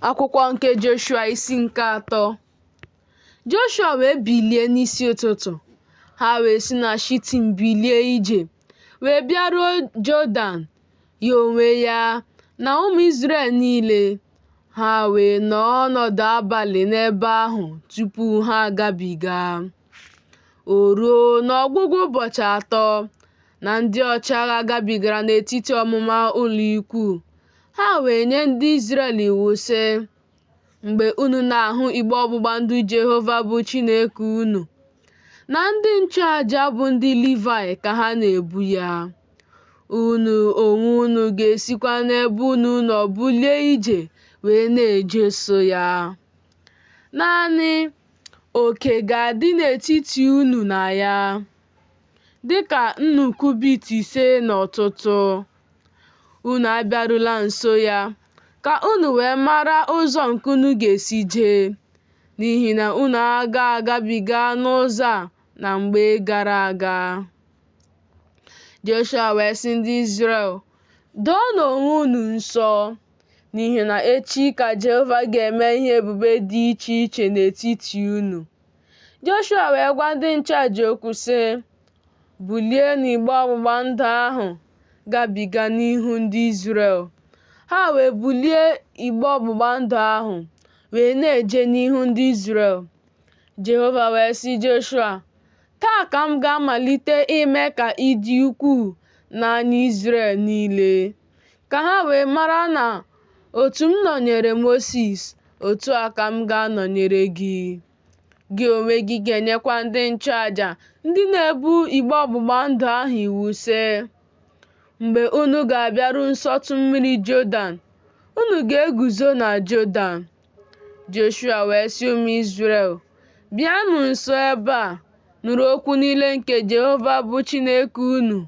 Akwụkwọ nke Joshua isi nke atọ Joshua wee bilie n'isi ụtụtụ, ha wee si na Shitim bilie ije, wee bịaruo Jọdan, ya onwe ya na ụmụ Izrel niile. Ha wee nọọ ọnọdụ abalị n'ebe ahụ tupu ha agabiga. O ruo n'ọgwụgwụ ụbọchị atọ, na ndị ọchịagha gabigara n'etiti ọmụma ụlọikwuu. Ha wee nye ndị Izrel iwu, sị, Mgbe unu na-ahụ igbe ọgbụgba ndụ Jehova bụ Chineke unu, na ndị nchụaja bụ ndị Livaị ka ha na-ebu ya, unu onwe unu ga-esikwa n'ebe unu nọ bulie ije wee na-ejeso ya. Naanị oke ga-adị n'etiti unu na ya, dị ka nnụ kubit ise n'ọtụtụ. Unu abịarula nso ya, ka unu wee mara ụzọ nke unu ga-esi jee, n'ihi na unu aga agabiga n'ụzọ a na mgbe gara aga. Joshua wee sị ndị Izrel, Doonụ onwe unu nsọ, n'ihi na echi ka Jehova ga-eme ihe ebube dị iche iche n'etiti unu. Joshua wee gwa ndị nchụaja okwu sị, Bulienụ igbe ọgbụgba ndụ ahụ gabiga n'ihu ndị Izrel. Ha wee bulie igbe ọgbụgba ndụ ahụ wee na-eje n'ihu ndị Izrel. Jehova wee sị Joshua, Taa ka m ga-amalite ime ka ị dị ukwuu n'anya Izrel niile. ka ha wee mara na otu m nọnyere Mosis, otu a ka m ga-anọnyere gị. Gị onwe gị ga-enyekwa ndị nchụaja ndị na-ebu igbe ọgbụgba ndụ ahụ iwu sị, Mgbe unu ga-abịaru nsọtụ mmiri Jọdan, unu ga-eguzo na Jọdan Joshua wee sị ụmụ Izrel, Bịanụ nso ebe a, nụrụ okwu niile nke Jehova bụ Chineke unu.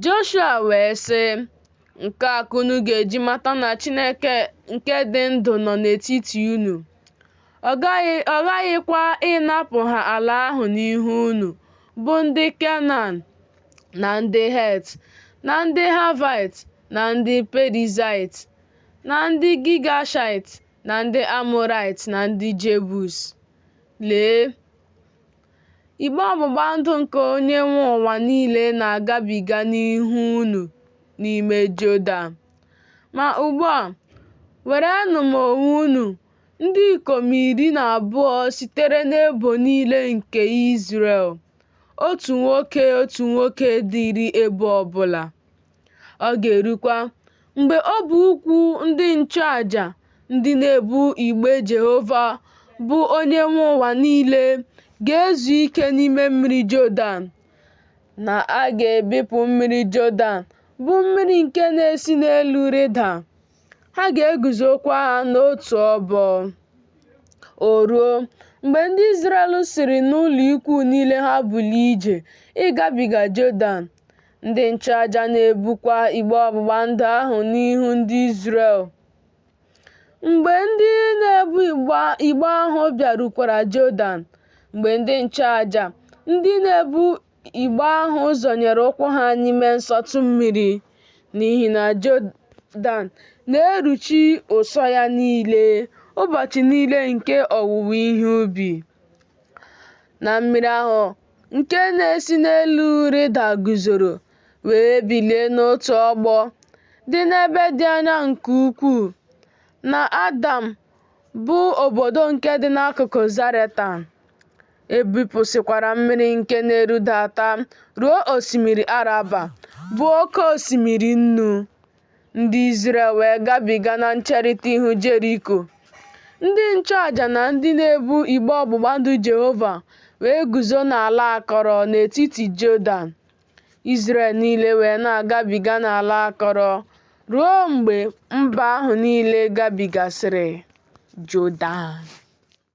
Joshua wee sị, Nke a ka unu ga-eji mata na Chineke nke dị ndụ nọ n'etiti unu. Ọ ghaghịkwa ịnapụ ha ala ahụ n'ihu unu, bụ ndị Kenan na ndị Het na ndị Havaịt na ndị Perizaịt Na ndị Gigashaịt na ndị Amoraịt na ndị Jebus. Lee! Igbe ọgbụgba ndụ nke onye nwe ụwa niile na-agabiga n'ihu unu n'ime Jọdan. Ma ugbu a, werenụ onwe unu, ndị ikom iri na abụọ sitere n'ebo niile nke Izrel, otu nwoke, otu nwoke dịrị ebo ọbụla. Ọ ga-erukwa mgbe ọbụ ụkwụ ndị nchụaja ndị na-ebu igbe Jehova bụ onye nwe ụwa niile ga-ezu ike n'ime mmiri Jọdan, na a ga-ebipụ mmiri Jọdan bụ mmiri nke na-esi n'elu rịda, ha ga-eguzokwa ha n'otu obo. O ruo, mgbe ndị Izrel siri n'ụlọikwuu niile ha bulie ije ịgabiga Jọdan, Ndị nchụaja na-ebukwa igbe ọgbụgba ndụ ahụ n'ihu ndị Izrel. Mgbe ndị na-ebu igbe ahụ bịarukwara Jọdan, mgbe ndị nchụaja ndị na-ebu igbe ahụ zọnyere ụkwụ ha n'ime nsọtụ mmiri, n'ihi na Jọdan na-eruchi ụsọ ya niile ụbọchị niile nke owuwe ihe ubi na mmiri ahụ nke na-esi n'elu rịda guzoro wee bilie n'otu obo dị n'ebe dị anya nke ukwuu, na Adam, bụ obodo nke dị n'akụkụ Zaretan. E bipụsịkwara mmiri nke na-erudata ruo osimiri Araba, bụ oke osimiri nnu. Ndị Izrel wee gabiga na ncherita ihu Jeriko. Ndị nchụaja na ndị na-ebu igbe ọgbụgba ndụ Jehova wee guzo n'ala akọrọ n'etiti Jọdan. Izrel niile wee na-agabiga n'ala akọrọ ruo mgbe mba ahụ niile gabigasịrị Jọdan.